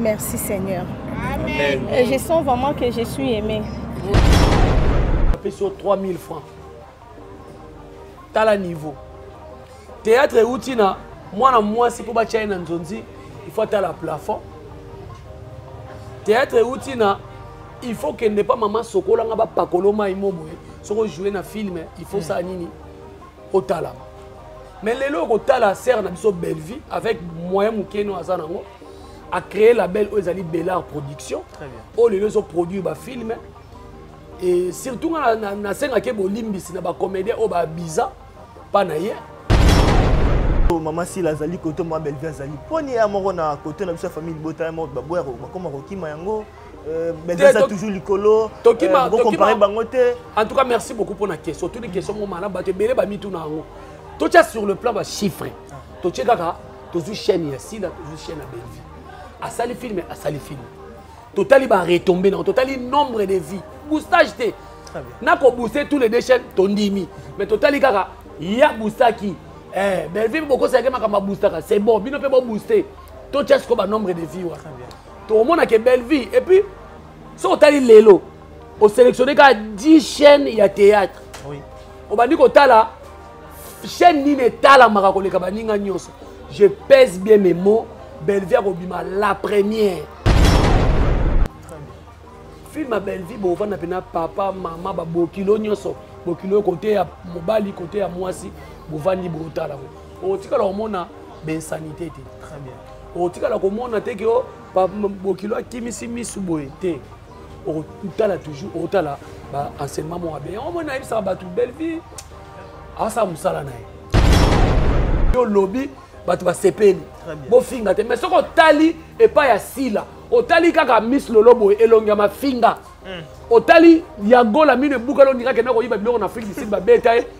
Merci Seigneur. Amen. Et je sens vraiment que je suis aimée. Tapez sur 3000 francs. Tala niveau. Théâtre euti na mwana mwasi mpo batya ye na nzonzi il faut atala plafond théâtre euti na il faut kende pa mama sokolanga bapakolo mai mo boye soki ojoue na filme il faut sala nini otalama mais lelo okotala sere na biso bellevie avec moyen moke no aza nango acréer label oyo ezali belard production oyo lelo ezoproduire bafilme e surtout ngai nasengaki bolimbisi na bacomédien oyo babiza mpa na ye mama sila azali koto mwa bellevie azali mpo ni ya moko na koto na biso ya famille libota ya moko baboya bakoma kokima yango Euh, benzasa toujours likolo euh, bocompare bango te en tout cas merci beaucoup mpo na question otuni question moko malamu bato ebele bamituna yango totya sur le plan bachiffre ah. totye kaka tozwi chaîne ya sila tozwi chaîne ya belvi asali filme asali filme totali baretombe nango totali nombre de vie boostage te na kobooste tous les deux chaîne tondimi mais totali kaka ya boostaki eh, belvi bokosaki makambo ya boostaka c'est bon bino mpe bobooste totya sikoyo banombre de vie wana tokomona ke bellevie et puis soki otali lelo oselectionne kaka 10 chaîne ya théâtre oui. obandi kotala chaîne nini etalamaka koleka baninga nyonso je pèse bien mes mots bellevie akobima la première film ya bellevie bovanda mpena papa mama babokilo nyonso bokilo kote ya mobali kote ya mwasi bovandi botala ngo okotikala komona bensanite te très bien okotikala komona te ke oh, bokilo akimisi misu boye te okotala toujours okotala baenseignement moko abe yango moi nayebisaka bato bellevie asala mosala na ye yo lobi bato basepeli bofinga te mais soki otali epai ya sila otali kaka miss lolo boye elongi ya mafinga hmm. otali ya gola mino ebukala ondingaki na koyiba biloko na afrique du sud babeta ye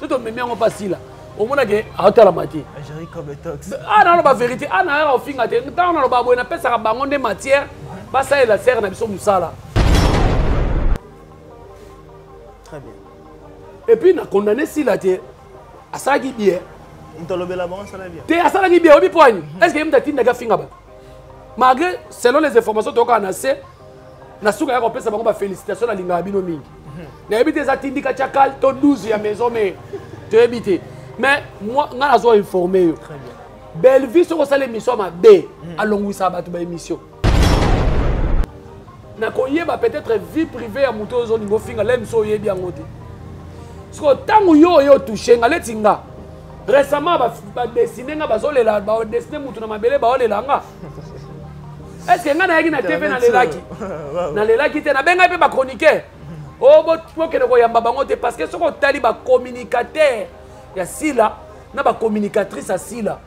to tomemi yango mpa sila omona ke aotalama te a naloba verité a nayaka kofinga te ntango naloba boye napesaka bango nde matière basalela sere na biso mosala epuis na condamne sila te asalaki bie te asalaki bie oyebi poani est ce que ye moto atindaki afinga bato malgré selon les informations tokaka na se na suka ya kopesa bango bafélicitation nalingaka bino mingi mhm. nayebi te eza tindika chakal to 12 ya maison mais toyebi te mais ngai nazwa informe yo bellevue soki osala émission ya mabe mhm. alongwisaka bato ba émission nakoyeba peut-être vie privée ya moto oyo ozolinga ofinga lemi so oyebi yango te siko ntango yo oye otouche nga leti nga récemment badesine nga bazolela badesine motu na mabele baolela nga est ce que ngai nayaki na tv nalelaki nalelaki te nabengaki mpe bachroniqueur o oh, bokende koyamba bango te parce que soki otali bacommunicateur ya sila na bacommunicatrice ya sila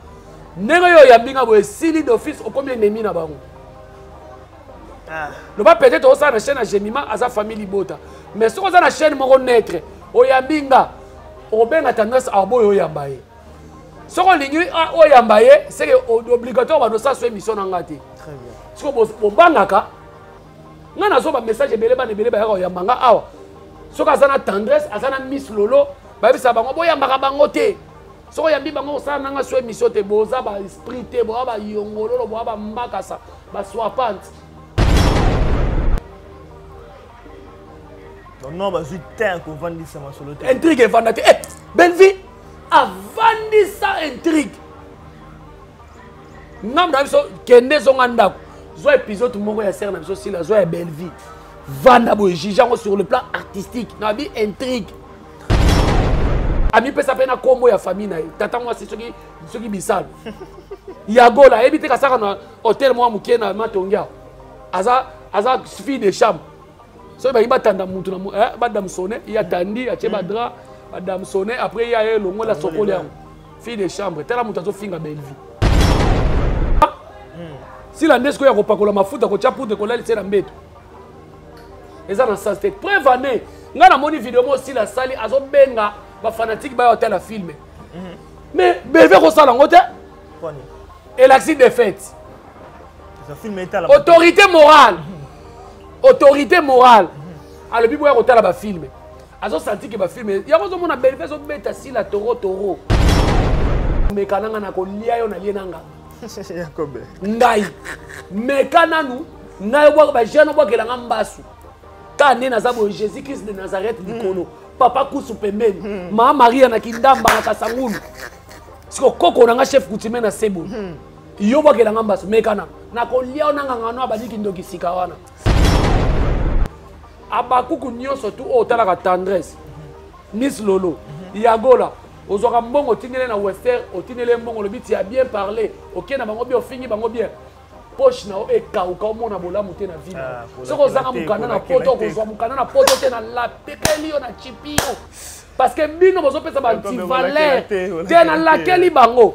ndenge oyo oyambi ngai boye esili d'office okomi enemi na bango ah. loba peut-être osala na chaîne ya gemima aza famille libota mais soki oza na chaîne moko neutre oyambi nga okobenga tendance arbo oyo oyamba ye soki olingi ah, oyamba ye seke obligatoire bato osaso émission na ngai te soki bobangaka ngai nazwa bamessage ebele bana ebele bayaka koyamba ngai awa soki aza na tendresse aza na miss lolo bayebisa bango boyambaka bango te soki oyambi bango kosala nanga so émission te boza baesprit te boya bayongololo boya bambakasa baswapante non bazwi te kovandisa masolo te intrigue evanda te eh, bellevie avandisa intrigue ngambo na biso kende zonga ndako zwa épisode moko ya sere na biso sila zwa ya bellevie vanda boye juge yango sur le plan artistique na bi intrigue amipesa mpe na nkombo ya famille na ye tata mwasi soki soki bisalu ya gola ayebi te kasaka na hotel mwa moke na matongia aza aza fille de chambre soki balingi batanda mutu na eh, badamsone ye atandi atie badra badamsone après ye aye elongola sokoli yango fille de chambre tala moto azofinga bellevie hmm. sila nde sikoyo ya kopakola mafuta kotya poudre kolalisa na mbeto eza na sens te preuve ane ngai namoni video moko sila asali azobenga bafanatike bayo atala filme hmm. mais beve kosala yango te elakisi defete autorité morale autorité morale alobi boya kotala bafilme azosanti ke bafilme yango ozomona belve ezobeta sila toro toro meka nanga na kolia yo nalie nanga ngai meka nanu ngai obwaka bajeune obwakela nga mbasu ka nde naza boye jésus christ de nazareth hmm. likolo papa kusu pembeni hmm. maa maria na kindamba na kasangulu siko koko na nga chef coutumier na sebo hmm. yo bwakela nga mbasi mekana nakolia yo nangangano abandi kindoki sika wana abakuku nyonso tu oyo oh, otalaka tendresse nis lolo yagola ozwaka mbongo otindele na wester otindele mbongo olobi ti ya bien parle okei na bango bien ofingi bango bien poche na yo ekauka omona bolamu te na vino ah, soki ozanga mokanda na poto okozwa mokanda na poto te na lapekeli yo na chipi yo parce que bino bozopesa bantivaleur te na lakeli bango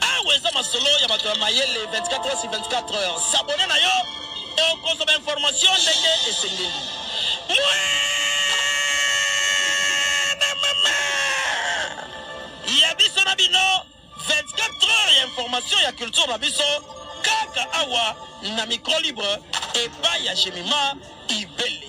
Awa eza masolo ya bato ya mayele 24 heures sur 24 heures. S'abonner na yo okozwa ba information ndenge esengeli. Ya biso na bino 24 heures ya information ya culture na biso kaka awa na micro libre epai ya Jemima Ibele.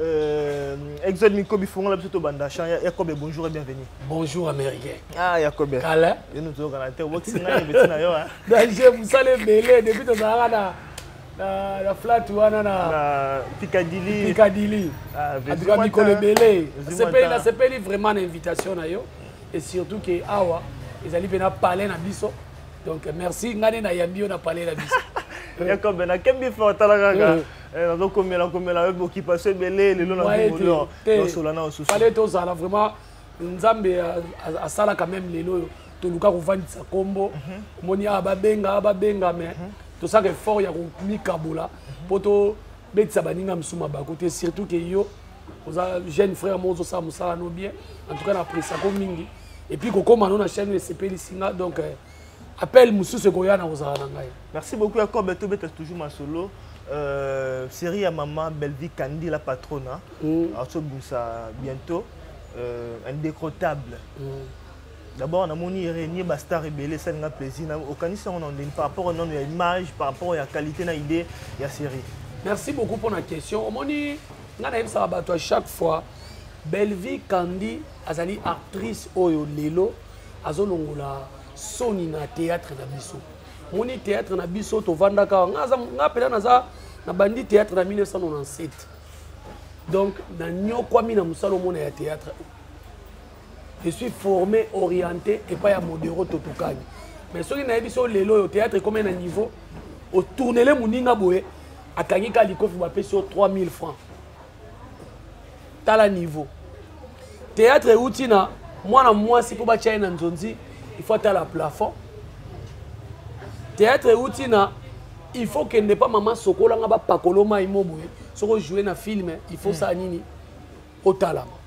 Euh, Exode Miko bifungola biso tobanda chant ya Yakobe bonjour et bienvenue. Bonjour américain. Ah Yakobe. Kala. Yo nous tozo kana te obokisi ngai beti na yo hein. Donc je vous salue belé depuis tozalaka na na na flat wana na na Picadilly. Picadilly. Ah, en tout cas mikolo ebele. Sepeli na sepeli vraiment na invitation na yo et surtout que awa ezali pena palais na biso. Donc merci ngane na yambi yo na palais na biso. Yakobe na kembi fort talaka. Eh, nazo komela komela avec occupation ebele lelo na bimolio nasola na osusu fale tozala vraiment nzambe asala quand même lelo oyo toluka kovandisa nkombo mhm. omoni awa babenga awa babenga me mhm. tosaka effort ya komikabola mpo mhm. tobetisa baninga mosusu mabaku te surtout ke yo oza jeune frère moko ozosala mosala no bien en tout cas na appréciako mingi epuis kokoma no na chaîne oyo esepelisi nga donc euh, appel mosusu ekoya na kozala na ngai merci beaucoup ya kobe tobeta toujours masolo euh, série ya mama bellevie kandi la patrona mm. azobimisa bientôt euh, indécrottable mm. d'abord namoni renie bastar ebele esali nga plaisir okanisi yango na ndenge par rapport nano ya image par rapport ya qualité na idée ya série merci beaucoup mpo na question omoni ngai nayebisaka bato à chaque fois bellevie kandi azali actrice oyo lelo azolongola soni na théâtre na biso moni théâtre na biso tovandaka awa nga mpela naza na bandi théâtre na 1997 donc nanyokwami na mosala omona ya théâtre je suis formé orienté epai ya modero totokani mais soki nayebi so lelo oyo théâtre ekomi na niveau otournele moninga boye akangi ka likofi bapesi yo 3000 francs tala niveau théâtre euti na mwana mwasi mpo batya ye na nzonzi il faut atala plafond théâtre euti na il faut kende mpa mama sokolanga bapakolo mai mo boye soki ojoue na film il faut sala nini otalama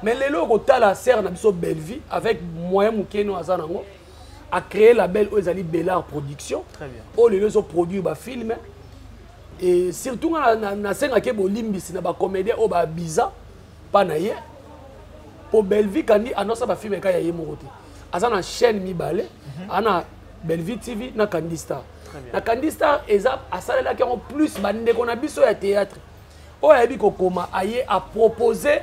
mais lelo okotala sere na biso bellevie avec moyen moke no aza nango a créé label oyo ezali belard production oyo lelo ezoproduire bafilme e surtout nga nasengaki bolimbisi na bacomédien oyo babiza mpa na ye mpo bellevie kandi anosa bafilme ekai ya ye moko te aza na chaîne mibale mhm. ana bellevie tv na kandi star na kandi star eza asalelaki yango plus bandeko na biso ya théâtre oyo ayebi kokoma aye apropose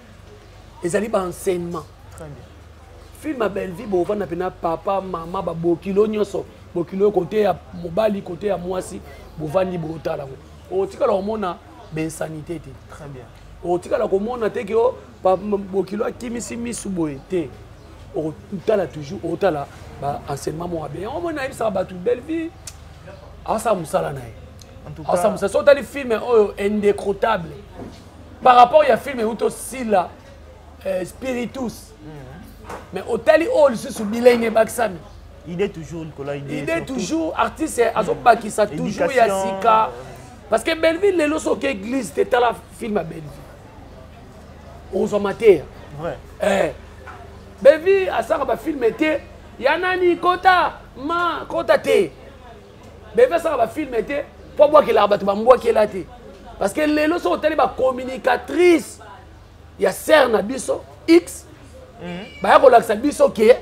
ezali ba enseignement film ya bellevie bovanda mpe na papa mama babokilo nyonso bokilo kote ya mobali kote ya mwasi bovandi botala yango okotikala komona bensanité te okotikala komona te ke oh, bokilo akimisi misu boye te okotala toujours okotala baenseignement moko abe yango moi nayebisaka bato bellevie asala mosala na ye asala mosala so otali filme oyo indécrottable par rapport ya film euti osila euh, spiritus mhm. mais otali oyo lisusu bilenge ebakisami idée toujours likolo idée toujours artiste mhm. azobakisa toujours ya sika parce que belleville lelo soki église te tala film ya belleville ozwa mateya eh. belleville asaka bafilme te ya nani kota ma kota te bebe asaka bafilme te mpo abwakelaka bato bambwakela te parce que lelo soki otali bacommunicatrice ya serre na biso x mhm. baya kolakisa biso ke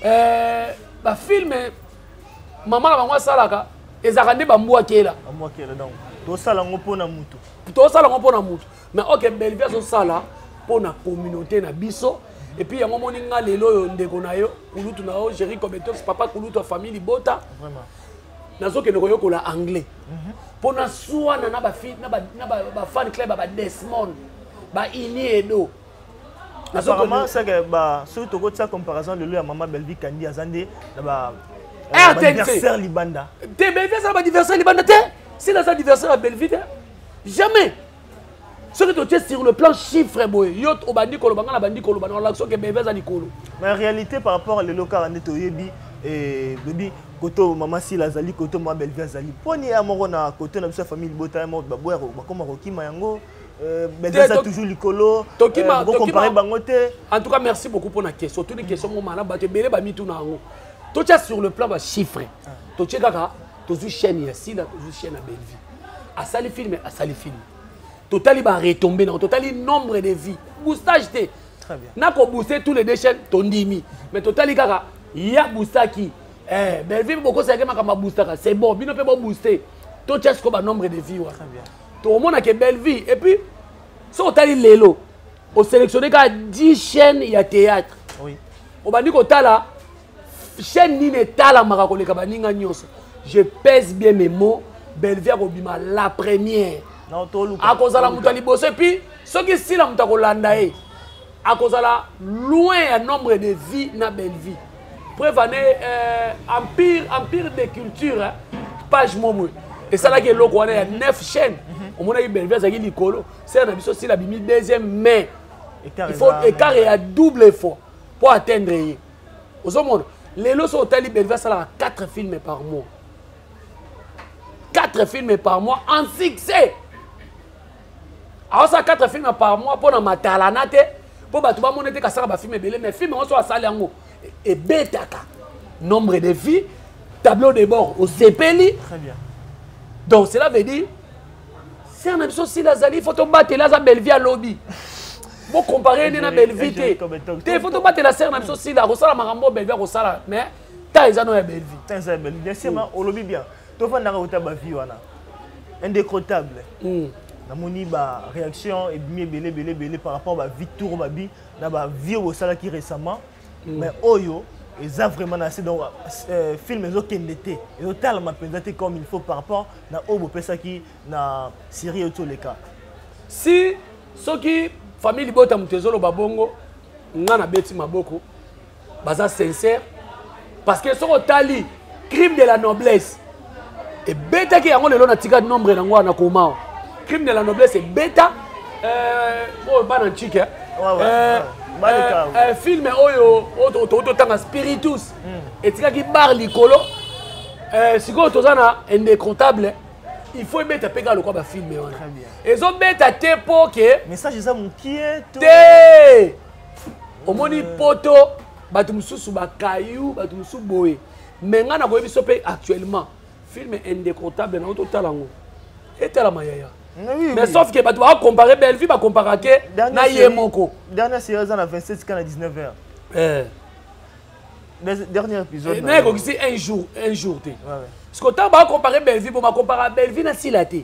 eh, bafilme mama na bango asalaka ezalaka nde bambwakela tosala yango mpo na motu tosala yango mpo na motu mais ok belvi azosala mpo na communauté na biso epuis yango omoni nga lelo oyo ndeko na yo kulutu na yo géri cometos papa kulutu ya famille libota nazokende koyokola anglais mpo mhm. naswana na bafan club ya badesmond baini edo apparemment seke soki tokotia comparaison lelo ya mama belvi kandi aza nde na ba eh, adversaire libanda te belvi aza na badversaire libanda te sila aza adversaire ya belvi te jamais soki totie sur le plan chiffre boye yo obandi koloba ngai nabandi koloba na olakisa oke bebe aza likolo na réalité par rapport à lelo kaka nde toyebi eh, bebi koto mama sila azali koto mama belvi azali mponi ya moko na koto na biso ya famille libota ya moko baboya bakoma kokima yango eh, belvisa toujours likolo bokompare eh, bango te en tout cas merci beaucoup mpona question otuni question mo malamu bato ebele bamituna yango totya sur le plan bachiffre ah. totye kaka tozwi chaîne ya sila tozwi chaîne ya bellevie asali film asali film totali baretombe nango totali nombre de vie boostage te nakobooste tous les deux chaîne tondimi mais totali kaka ya boostaki eh, bellevie bokosi yake makambo aboostaka c'est bon bino mpe bobooste totya siko banombre de vie wana tokomona ke bellevie et puis soki otali lelo oselectionne kaka 10 chaîne ya théâtre obandi kotala chaîne nini etalamaka koleka baninga nyonso je pèse bien mes mots bellevie akobima la première akozala moto ya liboso epuis soki sila moto akolanda ye akozala loin ya nombre de vie na bellevie preuve ane euh, empire empire de culture hein? page momwe esalaki eloko wana ya 9 chaîne mhm. omonaki bellevie azalaki likolo sela na biso sila bimi deuxième mai il faut écart ya double fois mpo atteindre ye ozomona lelo soki otali belvi asalaka 4 filme par mois 4 filme par mois en succès aosala 4 filme par mois mpo na matalana te mpo bato bamona ete kasaka bafilme ebele mais filme yango soki asali yango e-, ebetaka nombre de vie tableau de bord osepeli donc cela veut dire ser na biso sila azali fo tobateli aza bellevie alobi bocompare ye nde na bellevie te te fo tobatela ser na biso sila akosala makambo bellevie akosala mais ta eza no ya bellevie ta eza ya bellevie bien sûr ma olobi bien tofandaka kota bavie wana indécrottable hmm. namoni baréaction ebimi ebele ebele ebele par rapport bavie tour babi na bavie oyo bosalaki récemment mais oyo eza vraiment na se donc euh, film ezokende te ezotalama mpenza te comme il faut par rapport na oyo bopesaki na série oyo toleka si soki famille libota moto ezoloba bongo nga nabeti maboko baza sincère parce que soki otali crime de la noblesse ebetaki yango lelo natika nombre nango wana koma crime de la noblesse ebeta euh, oyo bana ncike euh, euh, film oyo totanga spiritus hmm. etikaki bar likolo sikoyo toza na indecontable il faut ebeta mpe kaka lokwa bafilme wana ezobeta te mpo ke message eza mokie te omoni poto bato mosusu bakayu bato mosusu boye me ngai nakoyebi biso mpe actuellement film indécrottable nango totala yango etalama yaya mais sauf ke bato bakompare bellevue bakompara ke na ye moko dernière série eza na 27 ka na 19 heures eh. dernier épisode eh, mais ekokisi un jour un jour te parce que ntango bakompare bellevue bo bakompara bellevue na sila te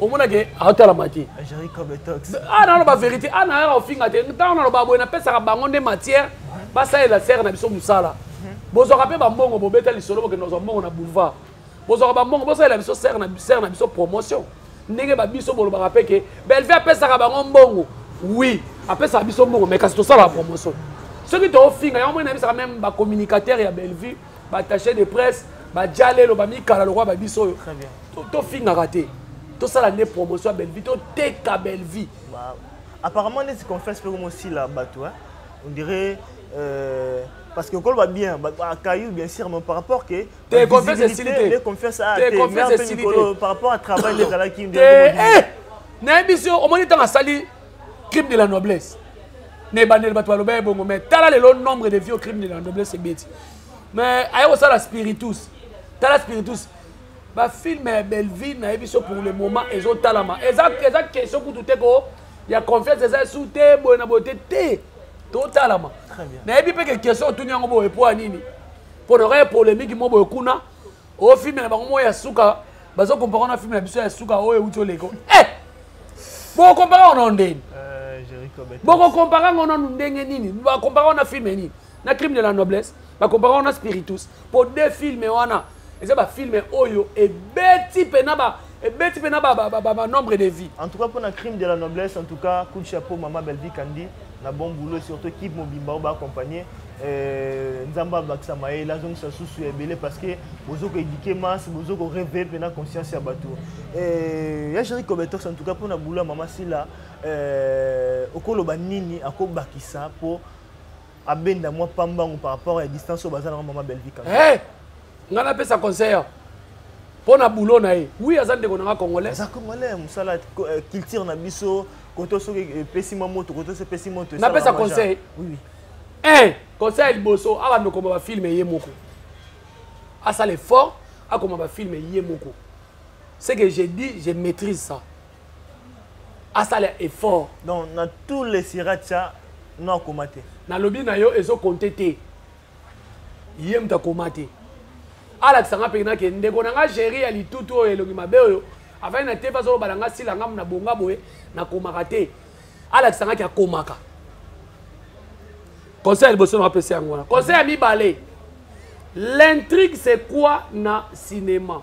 omona ke aotalama te ah, naloba verité ana ah, yaka ofinga te ntango naloba boye napesaka bango nde matière basalela sere na biso mosala bozwaka mpe bambongo bobeta lisolo bokende kozwa mbongo na boulevard bozwaka bambongo bosalela biso sere na biso promotion ndenge babiso bolobaka mpe ke belvi apesaka bango mbongo oui apesaka biso mbongo mai kasi tosalaka promotion soki tofinga yango moi nayebisaka meme bacommunicateur ya bellevue batache de presse bajalelo bamikala lokola babiso oyo tofingaka te tosala nde promotion ya bellevie toteka bellevie apparemment neti confesse mpe komosila bato on dirait euh, parce que okoloba bien akayu bien sûr mais par rapport que te confesse esili te confesse a te confesse esili te par rapport à travail ezalaki nde nayebisi yo omoni ntango asali crime de la noblesse na ebandeli bato balobaki bongo mais tala lelo nombre de vieux crime de la noblesse ebeti mais aya kosala spiritus tala spiritus bafilme ya bellevie nayebi so pour le moment ezotalama eza question kutu te ko ya confiance eza esu te boye na boye te te totalama nayebi mpe ke question otuni yango boye mpo ya nini mpo na kaka polémique mo boye kuna o film na bango moko ya suka bazo compare na film na biso ya suka oyo euti oleko eh! bokokompare yango nano ndeni eh, bokokompare yango nano ndenge nini bakompare yango na film nini na crime de la noblesse bakompare yango na spiritus mpo de filme wana eza bafilme oyo ebeti mpe na ba ebeti mpe na ba nombre de vie en tout cas mpona crime de la noblesse en tout cas coup de chapeau mama belvi kandi na bon boulot surtout équipe mobimba oyo baaccompagne euh, nzambe abakisa mayele azongisa susu ya ebele parce que bozo koédike masse bozo koreve mpena conscience ya bato euh, ya géri cobetox en tout cas mpona boulot ya mama sila euh, okoloba nini akobakisa mpo abenda mwa pambangu par rapport ya distance oyo baza nango mama belvi kaka hey! Eh! ngai napesa conseil mpo na boulot na ye wi aza ndeko na ngai congolais aza congolais mosala eh, culture na biso koto soki epesi mwa moto koto soki epesi moto napesa conseil oui. un conseil ya liboso abanda okoma bafilme ye moko asala effort akoma bafilme ye moko ce que je dis je maîtrise ça asala effort donc na tous les siratia no akoma te nalobi na yo ezokonte te ye moto akoma te alakisa nga mpe nake ndeko na nga géri ya litutu oyo elongi mabe oyo afai na te bazoloba na nga sila ngamu na bonga boye nakomaka te alakisa ngaki akomaka conseil ya liboso na apesa yango wana conseil ya mibale l'intrigue c'est quoi na cinéma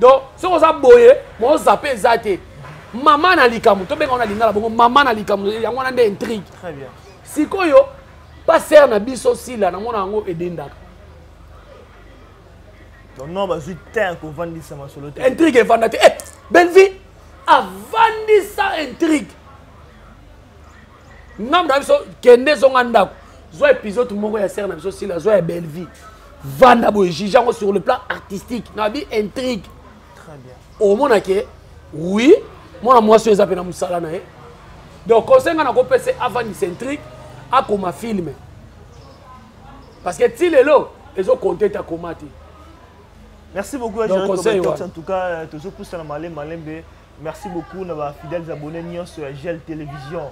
donc soki oza boye moko zape eza te mama na likambo tobenga wana lingala bongo mama na likambo yango wana nde intrigue sikoyo pasere na biso sila namona yango edendaka non bazwi ter kovandisa masolo te intrigue evanda te eh, bellevie avandisa intrigue ngambo na biso kende zonga ndako zwa épisode moko ya sere na biso sila zwa ya bellevie vanda boye juge yango sur le plan artistique na bi intrigue omona ke oui mwana mwasi oyo eza mpe na mosala na ye donc conseil ngai nakopesa avandisa intrigue akoma filme parce que ti lelo ezokonte ete akoma te merci beaucoup donc conseil wana en tout cas euh, tozopusana malembe malembe Merci beaucoup na ba fidèles abonnés nionso ya Gel Télévision.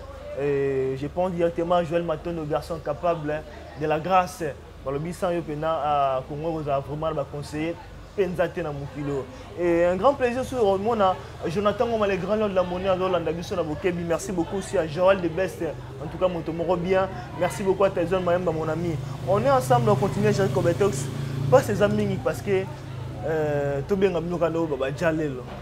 Et je pense directement à Joël Matondo, garçon capable hein, de la grâce. Balobi sans yo pena à Congo vous a vraiment ba conseiller penza te na mokilo. Et un grand plaisir sur Romona Jonathan Ngoma le grand de la monnaie à Lolanda biso na Bokebi. Merci beaucoup aussi à Joël de Best. En tout cas moto moro bien. Merci beaucoup à Tyson Mayemba mon ami. On est ensemble on continue Jean Cobetox. Pas ces amis parce que euh, tobenga bino kana ba jalelo.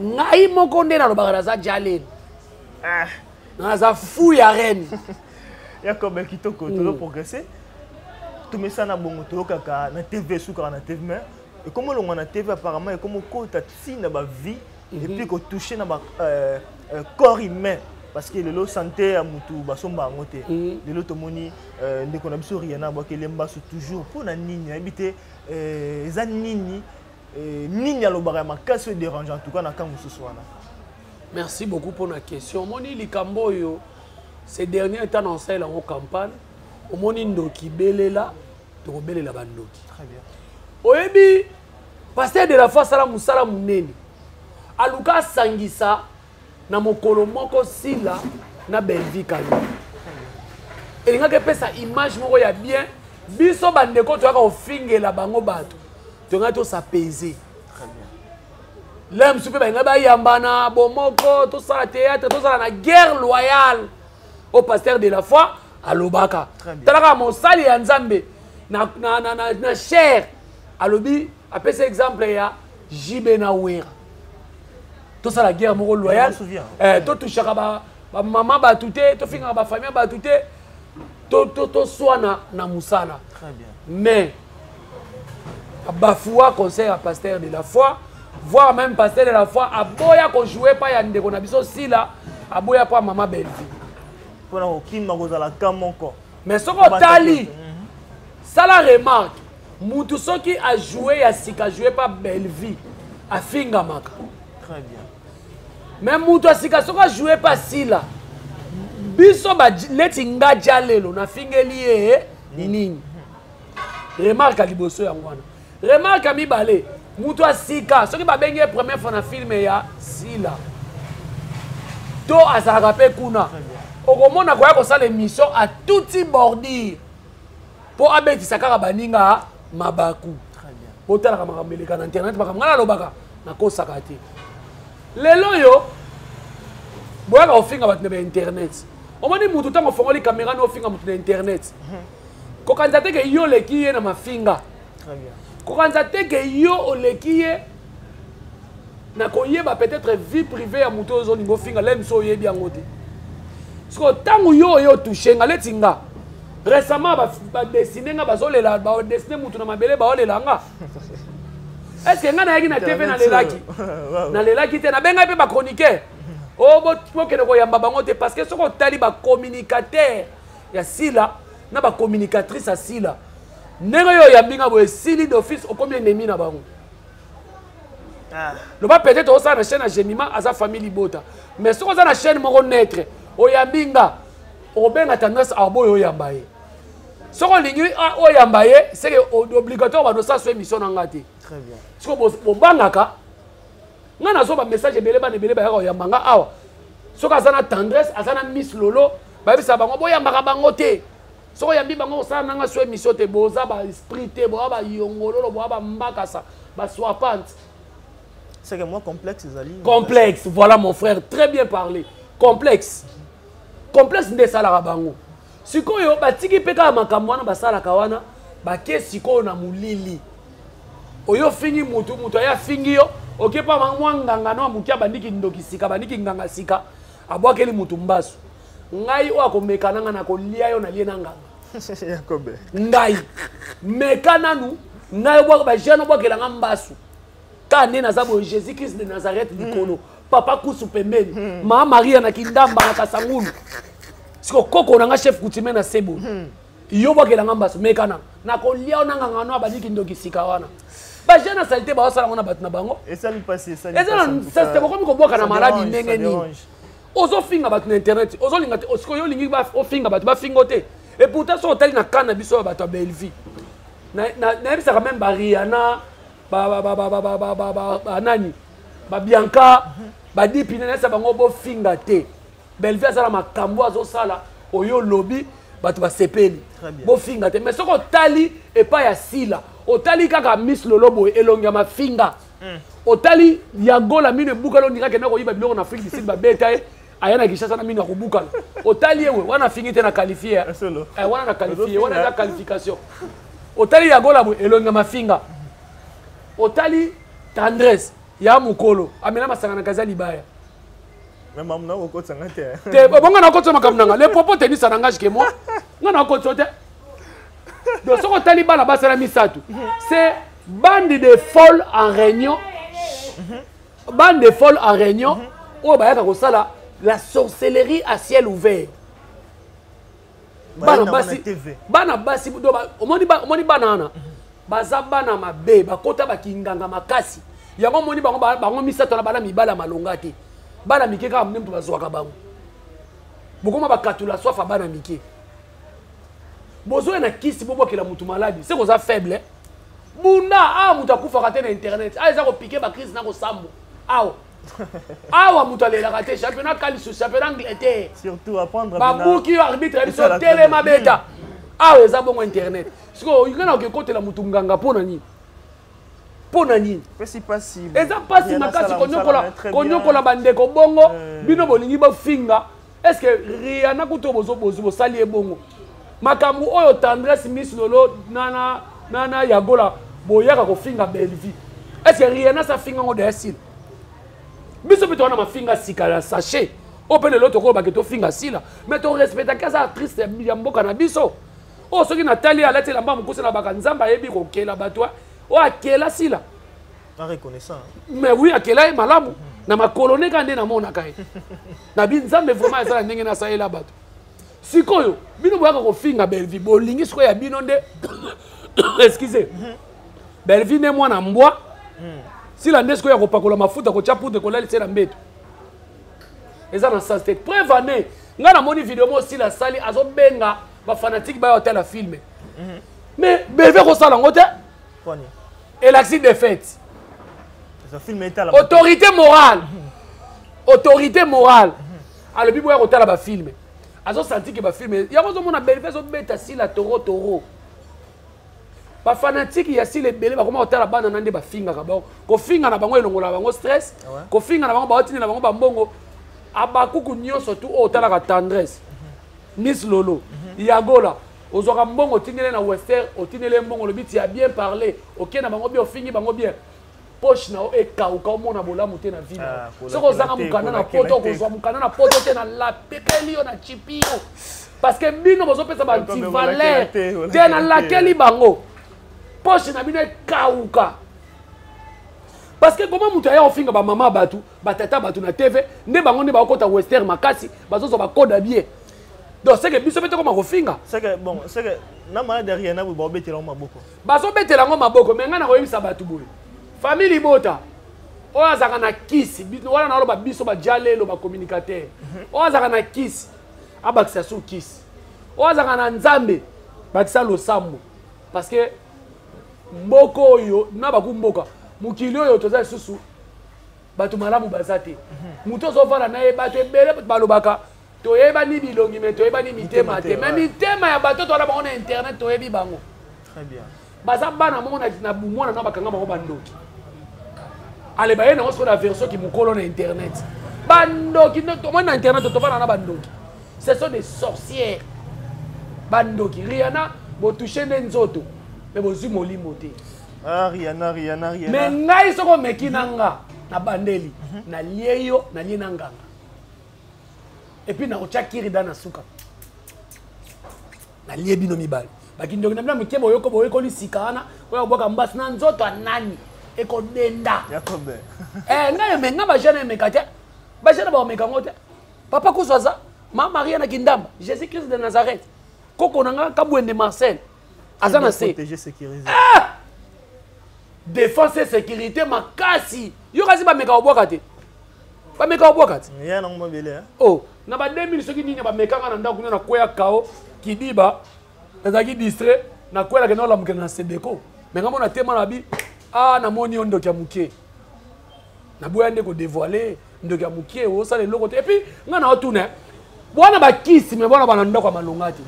ngai moko nde nalobaka naza jalen ah. naza fou ya reine ya kobe kitoko mm. tozo progresse tomesana bongo toyokaka na tv esukaka na tv mais ekomi olongwa na tv apparemment ekomi okota ti na bavie mhm. epuis kotouche na ba euh, euh, corps humain parce que lelo santé ya motu basomba yango te mhm. lelo tomoni euh, ndeko na biso riana abwaki elembaso toujours mpo na nini nayebi te eza nini Eh, nini alobaka ya makasi oyo dérange en tout cas na cas mosusu wana merci beaucoup mpo na question omoni likambo oyo ce dernier temps na osalela yango campagne omoni ndoki belela tokobelela bandoki oyebi paster de la foi asala mosala monene aluka asangisa na mokolo moko sila na belvi kayo elingaki epesa image moko ya bien biso bandeko toyaka kofingela bango bato tongaki tosapese lelo mosusu mpe balingai bayambana bomoko tosala théâtre tozala na guerre loyale au pasteur de la foi alobaka talaka mosali ya nzambe na, na, na, na, na chair alobi apesi exemple ya jb na wera tosala guerre moko loyale eh, totushaka bamama ba bato te tofingaka bafamille ya bato te toswana na mosala mais bafoua conseil ya pasteur de la foi voir même pasteur de la foi aboya kojoue epai ya ndeko na biso sila aboya mpo ya mama bellevie mpona kokima kozala ka moko mais soki otali mhm. sala remarke mutu soki ajoue ya sika joue mpa bellevie afingamaka très bien mais moto asika soki ajoue mpe asila biso neti nga ja lelo nafingeli ye nini remarke liboso yango wana remarke mibale moto asika soki babengi ye première fois na filme ya sila to azalaka mpe kuna okomona koya kosala émission atuti bordure mpo abetisa kaka baninga mabaku botalaka makambo eleka na internet makambo ngai nalobaka nakosaka te lelo oyo boyaka kofinga bato na bainternet omoni motu ntango ofongoli kamera no ofinga motu na internet mhm. kokanisa te ke yo oleki ye na mafinga kokanisa te ke yo oleki ye na koyeba peut-être vie privée ya moto oyo ozolinga ofinga lem so oyebi yango te sikoyo ntango yo oye otouche nga leti nga récemment badesine nga bazolela badesine motu na mabele baolela nga estce nga nayaki na tv nalelaki nalelaki te nabengaki mpe bachroniqueur oh, o bokende koyamba bango te parce que soki otali bacommunicateur ya sila na bacommunicatrice ya sila ndenge oyo oyambi nga boye esili d'office okomi enemi na bango Ah. loba peut-être osala na chaîne ya gemima aza famille libota mais soki oza na chaîne moko naitre oyambi nga okobenga tendance aboyo oyamba ye soki olingi ah, oyamba ye seke obligatoire bando osaso émission na nga te soki bobangaka nga nazwa bamessage ebele bana ebele bayaka oyamba nga awa soki aza na tendresse aza na miss lolo bayebisa bango boyambaka bango te soko oyambi bango kosala nanga so émission te boza ba esprit te boya bayongololo boya bambakasa basoapante c'est que moi complexe ezali complexe voilà mon frère très bien parlé complexe complexe nde esalaka bango sikoyo batiki mpe kaka makambo wana basalaka wana bake sikoyo na molili oyo ofingi mutu mutu aye afingi yo okepa mwa nganga no amoki abandi kindoki sika abandi kinganga sika abwakeli mutu mbasu ngai oyo akomeka na ngai nakolia yo nalie na nganga yakobe ngai meka nanu ngai obwaka bajeune obwakela ngai mbasu kaka nde naza boye jésus christ de nazareth hmm. likolo papa kusu pembeni hmm. maa maria na kindamba na kasangulu siko koko na ngai chef coutumier na sebo hmm. yo obwakela ngai mbasu meka nanu nakolia yo na nganga no abandi kindoki sika wana bajeune na salite baosala yango na bato na bango eza na nsasite bokomi kobwaka na maladi ndenge nini ozofinga bato na internet ozolinga te osikoyo olingi ofinga bato bafinga o te et pourtant soki otali na kan na biso ya bato ya bellevie nayebisaka meme bariana banani babianka badipine nayebisa bango bofinga te bellevie aza na makambo azosala oyo olobi bato basepeli bofinga te mais soki otali epai ya sila otali kaka miss lolo boye elongi ya mafinga mm. otali ya gola mino ebukala ondinga kenda koyiba biloko na afrique du sud babeta ye aya na kinshasa na mino ya kobukana otali ye we wana afingi te na qualifie eh, eh, wana na qualifie wana eza qualification otali ya gola boye elongi ya mafinga otali tendresse ya mokolo amela masanga na kaza libaya te bonga nakotisa makambo nanga le propos tenisa nangage ke moi nga nakotisa te donc soki otali bana basala misato c'est bande de folle en réunion bande de folle en réunion oyo bayaka kosala la sorcellerie à ciel ouvert bana basi bana basi omoni bana wana baza bana mabe bakota bakinganga makasi yango omoni bango bango misato na bana mibala malonga te bana mike kaka mne moto bazwaka bango bokoma bakatula swafa bana mike bozoya na kisi bobwakela motu maladi se koza faible bunda awa ah, motu akufaka te na internet awa ah, eza kopike bakrise na kosambo awa ah, awa motu alelaka te championnat kalisu championnat angleterre babuki yo arbitre ya biso telema beta awa eza bongo internet sikoyo olinga na okekotela motu nganga mpo na nini mpo na nini eza mpasi makasi konyokola bandeko bongo eh. bino bolingi bofinga est ce que riana kuto bozo bozo bosali ye bongo makambo oyo tendresse miss lolo na na na na yagola boyaka kofinga bellevue est ce que riana sa finga ngo daya sila biso mpe towana mafinga sika ya sachet oyo mpe lelo tokoyo bake tofinga sila mais torespectaki aza artiste ya mboka na biso oyo soki natali alati elamba mokuse na baka nzambe ayebi kokela bato oyo akela sila mais oui akela ye malamu na makolo ne kaka nde namonaka ye na bi nzambe vraiment eza na ndenge nasalela bato sikoyo bino boyaka kofinga bellevie bolingi sikoyo ya bino nde excuse bellevie nde mwana mbwa hmm. sila nde sikoyo ya kopakola mafuta kotya poudre kolalisa ye na mbeto eza na sens te preuve ane ngai namoni video moko sila asali azobenga bafanatike bayo atala filme mais beve kosala yango te elakisi defaite autorité morale autorité morale alobi boya kotala bafilme azosanti ke bafilme yango ozomona belve ezobeta sila toro toro bafanatike ya sila ebele bakoma kotala bana na nde bafingaka bango kofinga na bango elongola bango stress ah kofinga na bango baotinda na bango bambongo abakuku nyonso tu oyo otalaka tendresse miss lolo yagola ozwaka mbongo otindele na wester otindele ye mbongo olobi tia bien parle okei na bango bien ofingi bango bien poche na yo ekauka omona bolamu te na vino ah, soki ozanga mokanda na poto okozwa mokanda na poto te na lapekeli yo na chipi yo parce que bino bozopesa bantivaleur te nalakeli bango poche na bino ekauka parce que koma moto aya kofinga bamama bato batata bato na tv nde bango nde bakokota wester makasi bazozwa bakoda bien donc seke biso mpe tokoma kofinga seke bon seke na malade ya riana boye baobetela yango maboko bazobetela yango maboko me ngai nakoyebisa bato boye famille libota oyo azalaka na kisi wana naloba biso bajalelo bacommunicateur mhm. oyo azalaka na kisi abakisa su kisi oyo azalaka na nzambe bakisa losambo parce que mboka oyo na bakumboka mokili oyo toza lisusu bato malamu baza te mhm. moto ozofanda na ye bato ebele balobaka toyebani bilongi me toyebani mitema te me mitema ya bato towana bango na internet toyebi bango baza bana moko na bomwana na bakanga bango bandoki ale baye nango sikoyo na version kimokolo na internet bandoki tomoni na internet tofana na bandoki ce sont des sorcières bandoki riana botouche nde nzoto me bozwi molimo te ah, me ngai soko omeki na nga na bandeli mhm. nalie yo nalie na nganga epuis nakotya kirida na suka nalie bino mibale bakindoki na bino ya moke boyoko boyekoli sika wana oyo kobwaka mbasi na nzoto ya nani ekodenda eh, ngai emenga bajene emeka te bajene baomeka yango te papa kusu aza ma maria na kindamba jésus christ de nazareth koko na ngai kabwende marcel aza na se ah! défense et sécurité makasi yo kasi bameka kobwaka te bameka kobwaka te oh na ba 2000 soki nini bamekanga na ndako kuna na kweya kao kidiba nazalaki distrait na kwela kenda olamukela na sebeko me ngambo na tema na bi a ah, namoni yo ndoki ya moke naboya nde kodevoile ndoki ya mokie osala eloko te epuis ngai na otuna bwana bakisi me bwana bana ndako ya malonga te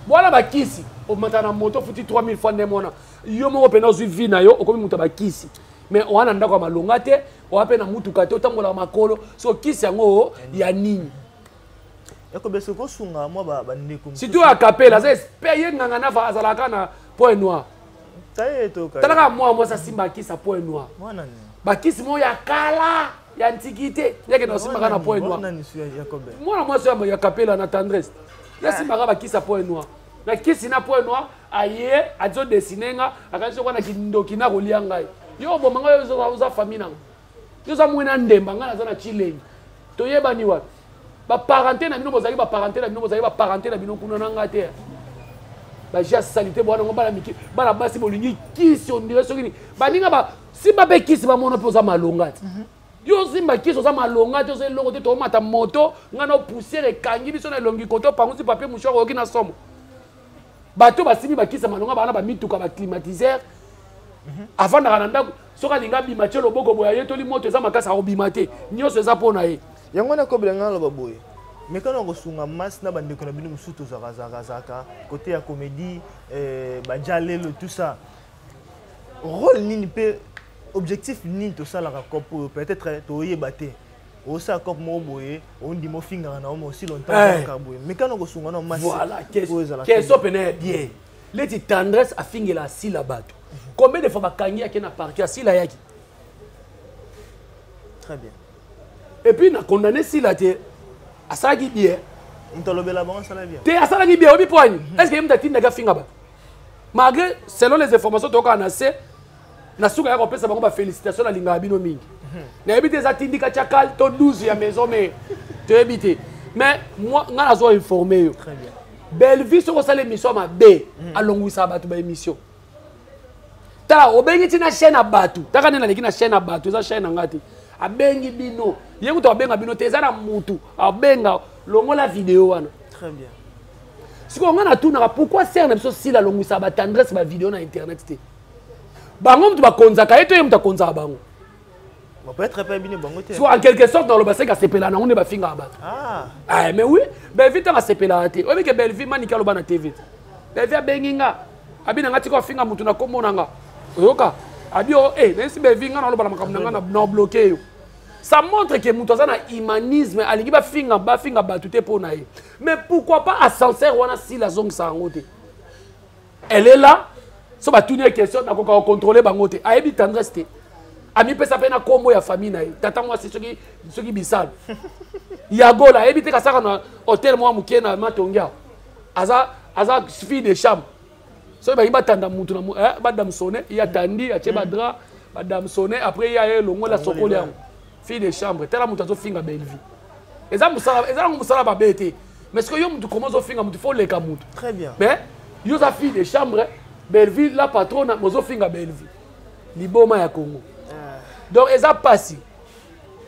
bwana bakisi omata na moto ofuti 3000 fois ndenge mwana yo moko mpena ozwi vi na yo okomi moto ya bakisi me oa na ndako ya malonga te oa mpe na motuka te otambolaka makolo so kisi yango ya nini ekobesa kosunga mwa bandeko surtout ya kapela aza espere ye nganga nafa azalaka na point noir tala kaka mwana mwasi asimba akisi ya point noir bakisi moko ya kala ya ntiki te yeke na osimbaka na point noir mwana mwasi oyo ya kapela na tendresse yasimbaka ah. bakisi ya point noir na kisi na point noir aye azodesine nga akanisi okwa na kindoki nakolia ngai yo oboma ngai oza famille nango yo oza mwena ndemba ngai naza na chilengi toyebani wapi baparente na bino bozalaki baparente na bino bozalaki baparente na bino kuna na ngai te baji ya salite bwana ngo bana mike bana basi bolingi kisi ondire soki nini baninga ba simba mpe kisi bamona mpe oza malonga te mhm. yo osimba kisi oza malonga te oza eloko te toomata moto ngai na poussière ekangi biso na elongi kote opangusi papie mouchoir oyoki na somo bato basimbi bakisi ya malonga bana bamituka baclimatiseur mhm. afandaka na ndako soki alingi abima tie loboko boye ayetoli moto eza makasi akobima te nyonso eza mpo na ye yango wana kobela ngai naloba boye mekano ya kosunga masi na bandeko na bino mosusu tozakazakazaka kote ya komedi eh, bajalelo tout ça role nini mpe objectif nini tosalaka cope oyo peut-être toyeba te osala cope moko boye ondima ofingaka na omo osi longtemps eh. boye mekano kosunga na masi voilà question pene bien leti tendresse afingela asila bato combien de fois bakangi yake na parquet asila yaki très bien et puis na condamné sila te asalaki bien moto alobela bango asala bien te asalaki bien oyebi poani est ce que ye moto atindaki afinga bato malgré selon les informations tokaka na se na suka ya kopesa bango bafélicitation nalingaka bino mingi mhm. nayebi te eza tindika chakal to 12 ya maison mais toyebi te mais ngai nazo informe yo bellevue soki osala émission ya mabe mhm. alongwisaka bato baémission tala obengi ti na chaîne ya bato taka nde naleki na chaîne ya bato eza chaîne na ngai te abengi bino ye kutu abenga bino te eza na mutu abenga longola video wana sikoyo ngai natunaka pourquoi sere na biso sila alongwisaka batendresse bavideo na internet te bango moto bakonzaka ye to ye moto akonzaka bango so en quelque sorte naloba seke asepela nango nde bafingaka bato ah. eh, mais oui belvi ntango asepelaka te oyebi ke belvi maniki aloba na tv belvi abengi nga abi na nga tika ofinga motu na kombo na nga oyoka abi o e nayesi belvi nga naloba na makambo na nga na bloke yo ça montre que moto aza na humanisme alingi bafinga bafinga bato te mpo na ye mais pourquoi pas ascenseur wana sila azongisa yango te elle est là so batuni ye question nakoka kocontrole bango te ayebi tendresse te amipesa mpe na nkombo ya famille na ye tata mwasi soki soki bisalu ya gola ayebi te kasaka na hotel mwa moke na matongi awa aza aza fille de chambre soki balingi batanda motu eh, badamsone ye atandi atye badra badamsone après ye aye elongola sokoli yango fille de chambre tala moto azofinga bellevue eza mosala eza nango mosala mabe te mais soki yo moto koma ozofinga moto fo oleka moto très bien mais yo oza fille de chambre bellevue la patrona mozofinga bellevue liboma ya congo ah. donc eza mpasi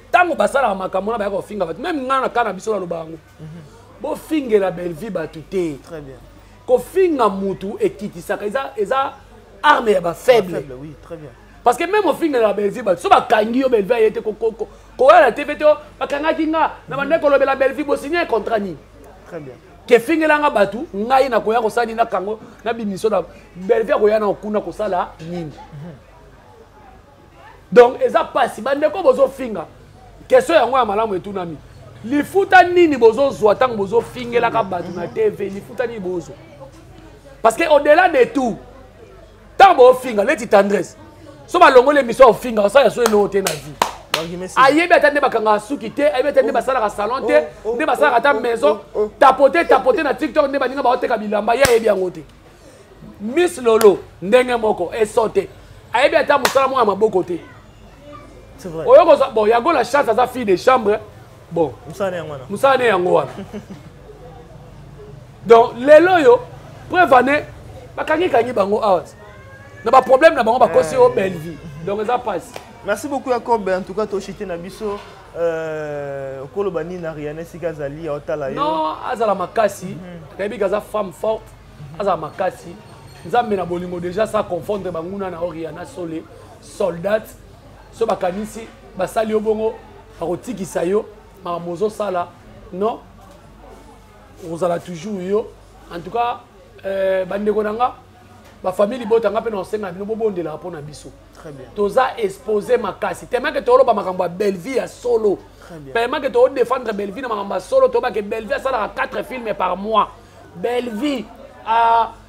ntango basalaka makambo wana bayaka kofinga bato meme ngai na kaa na biso naloba yango mhm. bofingela bellevue bato te très bien kofinga motu ekitisaka eza eza arme ya bafaible oui, très bien parce que meme ofingelaka bellevue bato so bakangi yo bellevue aye te koya na tv te oh, bakangaki nga na bande kolobela bellevue bosigne contrat nini kefingelanga bato ngai nakoya kosala nini nakango na bimisio na bellevue akoya na okuna kosala nini donc eza mpasi bandeko bozofinga question yango ya malamu etunami lifuta nini bozozwa ntango bozofingelaka bato na tv lifuta nini bozwa parce que au delà de tout ntango baofinga leti tendresse so balongoli émission ya ofinga osala ya so eloko te na vie ayebi ata nde bakangaka suki te ayebi ata nde oh. basalaka salon te oh, oh, nde basalaka ata maison tapote tapote na tiktok nde baninga baoteka bilamba ye ayebi yango te miss lolo ndenge moko esote ayebi ata mosala moko ya maboko te oyo kozwa bon yango la chance aza fille de chambre bon musala yango wana musala ne yango wana donc lelo oyo preuve ane bakangi kangi bango awa na ba problème na bango bakosi yo eh. belle vie donc eza pasi merci beaucoup yacob en tout cas toshite na biso euh, okoloba nini na riane esika azali aotala yo non azala makasi mhm. nayebi ke aza femme forte mhm. azala makasi nzambe na bolingo déjà sa confondre banguna na oriana sole soldate so bakanisi basali yo bongo bakotikisa yo makambo ozosala non okozala toujours yo en tout cas euh, bandeko na nga bafamille libota nga mpe na osenga bino bobondelaka mpo na biso toza expose makasi temake toloba makambo ya bellevie ya solo temake todefendre bellevie na makambo ya solo toyebake bellevie asalaka 4 filme par mois bellevie uh,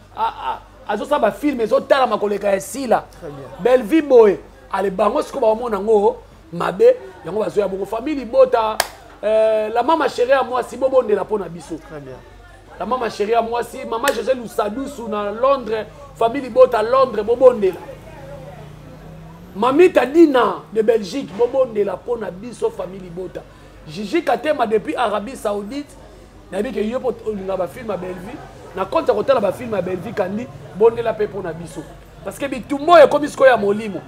azosala bafilme ezotalama koleka ya sila bellevie boye ale bango sikoyo bakomona yango mabe yango bazoya bongo famille libota euh, la mama chérie ya mwasi bobondela mpo na biso la mama chérie ya mwasi mama josé lusadusu na londres famille libota londres bobondela mamita dina de belgique bobondela mpo na biso famille libota jiji katema depuis arabie saoudite nayebi ke yo mpo olingaka bafilme ya bellevue na konti ya kotala bafilme ya bellevue kandi bondela mpe mpo na biso parce que bitumba oyo ekomi sikoyo ya molimo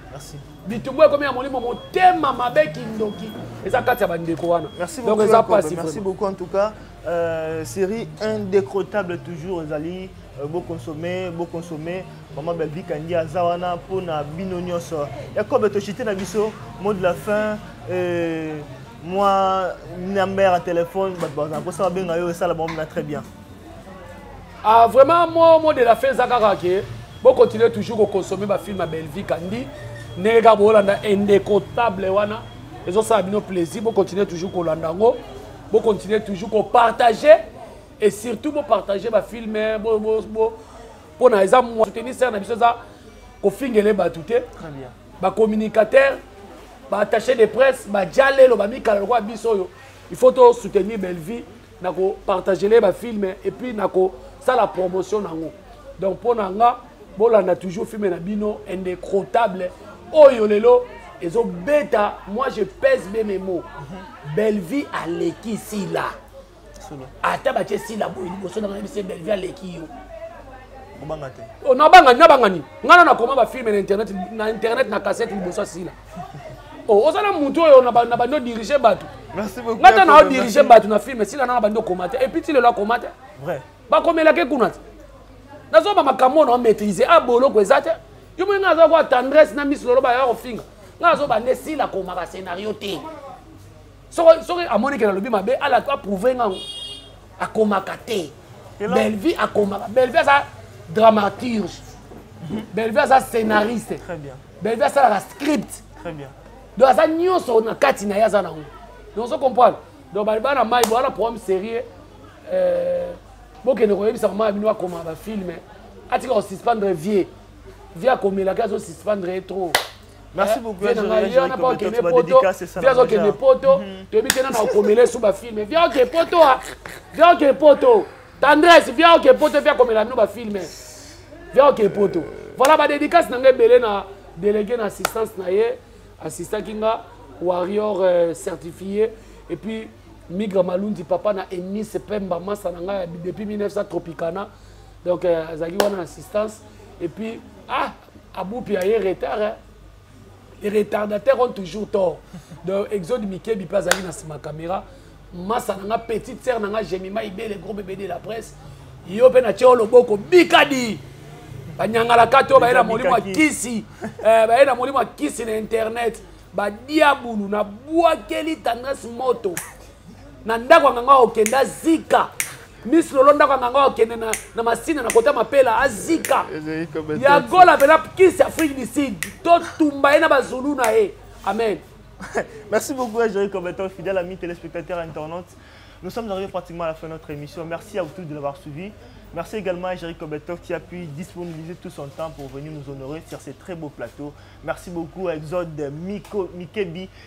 bitumba oyo ekomi ya molimo motema mabe kindoki eza kati ya bandeko wana donc eza mpasi merci beaucoup en tout cas euh, série indécrottable toujours ezali euh, boconsommer boconsommer mama belvi kandi aza wana mpo na bino nyonso yakobe toshite na biso mot de la fin euh, mwa number ya telefone bato bazala mposa babenga yo esala bango mina très bien ah, vraiment mo mo de la fin eza kaka ke bokontinue toujours kokonsome bafilme ya bellevie kandi ndenge kaka boolanda indécontable wana ezosala bino plaisir bokontinue toujours kolanda yango bokontinue toujours kopartage et surtout bopartage bafilme mpo na eza soutenir sere na biso eza kofingele bato te bacommunicateur baattaché de presse bajalelo bamikala lokola biso oyo il faut to soutenir bellevie na kopartagele bafilme epuis na kosala promotion na yango donc mpo na nga bolanda toujours filme na bino indécrotable oyo lelo ezobeta moi je pèse be mes mots bellevie aleki sila ata batie sila boye liboso na ngai belvi aleki yo obanga te oh, nabanga nabanga nini ngai na nakoma bafilme na internet na internet na kasete liboso ya sila oh, oza na motu oyo na bandi odirige bato ngai ata na odirige bato na filme sila nanga bandi okoma te epuis ti lelo akoma te bakomelaki kuna te nazoba makambo oyo na omaîtrise a ah, boloko eza te yo moni ngai aza kwa tendresse na miso loloba ya kofinga ngai azoba nde sila akomaka scenario te soki soki amoni ke nalobi mabe ala aprouve ngango akomaka te bellevie akomaka bellevie aza dramaturge bellevie aza scénariste bellevie asalaka script donc aza nyonso na kati na ye aza nango donc ozo comprendre donc baliba na mai bowana programme sérieux euh, bokende koyebisa mama ya bino bakoma bafilme atika kosuspendre vie vie akomelaki azosuspendre ye trop merci eh, beaucoup na ngai yo na ba kende poto via zo kende poto mhm. to bi tena na komela su ba film via ke poto a via ke poto tendresse via ke poto via komela no ba film via ke poto voilà ba dédicace na ngai belé na délégué na assistance na ye assistant kinga warrior euh, certifié et puis migra malundi papa na eunice pemba masa na ngai depuis 1900 tropicana donc euh, azalaki wana na assistance et puis ah abupi aye retard hein? les retardateurs ont toujours tort donc exode mikebi mpe azalaki na nsima caméra masa na nga petite sere na nga gemima ibele gros bebe de la presse yo mpe natye yo loboko bikadi banyangalaka to baye na molimo ya kisi eh, baye na molimo ya kisi na internet badiabulu nabwakeli tendresse moto na ndako ya nganga okende azika miss lolo ndako ya nganga okende na, na masina na kota mapela azika ya gola mpena kisi afrique du sud totumba ye na bazulu na ye amen merci beaucoup joy combattant fidèle ami téléspectateur internaute nous sommes arrivés pratiquement à la fin de notre émission merci à vous tous de l'avoir suivi Merci également à Jerry Kobetov qui a pu disponibiliser tout son temps pour venir nous honorer sur ces très beaux plateaux. Merci beaucoup à Exode Miko, Mikebi